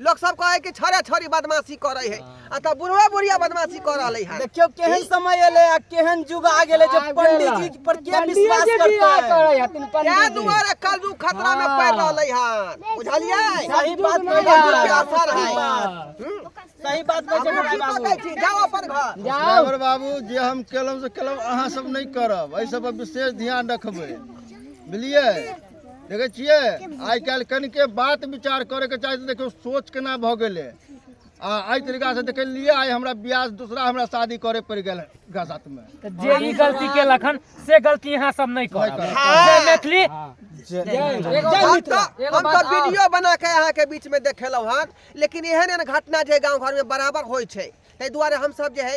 लोग सब कहे कि छोरे छोरी बदमाशी करे है आ त बुढ़वा बुढ़िया बदमाशी कर रहले है देखियो केहन समय एले आ केहन युग आ गेले जे आ पंडित गेलै। जी पर के पंडित विश्वास जी करते बियाह हैं? करै हथिन क्या पंडित जी दुआरे कलजू खतरा में पड़ रहले है बुझलिए सही बात में कलजू के बाबा। असर है हाँ। हम्म? सही बात में अपने जगह की बाबू पकड़ छी, जाओ अपन घर जाओ ड्राइवर बाबू जे हम केलहुँ से केलहुँ अहाँ सब नहि करब एहि सब पर विशेष ध्यान रखबै बुझलियै देखै छियै आइ काल्हि कनिके बात विचार करैके चाही तऽ देखियौ सोच केना भऽ गेलै आ एहि तरीकासँ देखै लिए आइ हमरा ब्याज दूसरा हमरा शादी करे पड़ि गेल एकरा साथमे तऽ जे ई गलती केलक हन से गलती अहाँ सब नहि करब जय मैथिली हम तऽ हम तऽ वीडियो बना के अहाँके बीच में देखेलहुँ हन लेकिन एहन एहन घटना जे गाँव घर में बराबर होइ छै ताहि दुआरे हमसब जे है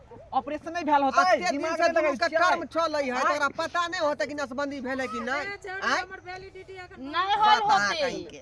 ऑपरेशन नहीं भेल होता अत्ते दिन से दुनू के कर्म चलै है तोरा पता नहीं होता कि नसबंदी भेलै कि नहीं आय हमर वैलिडिटी अखन नहीं होल बता होते कहीं के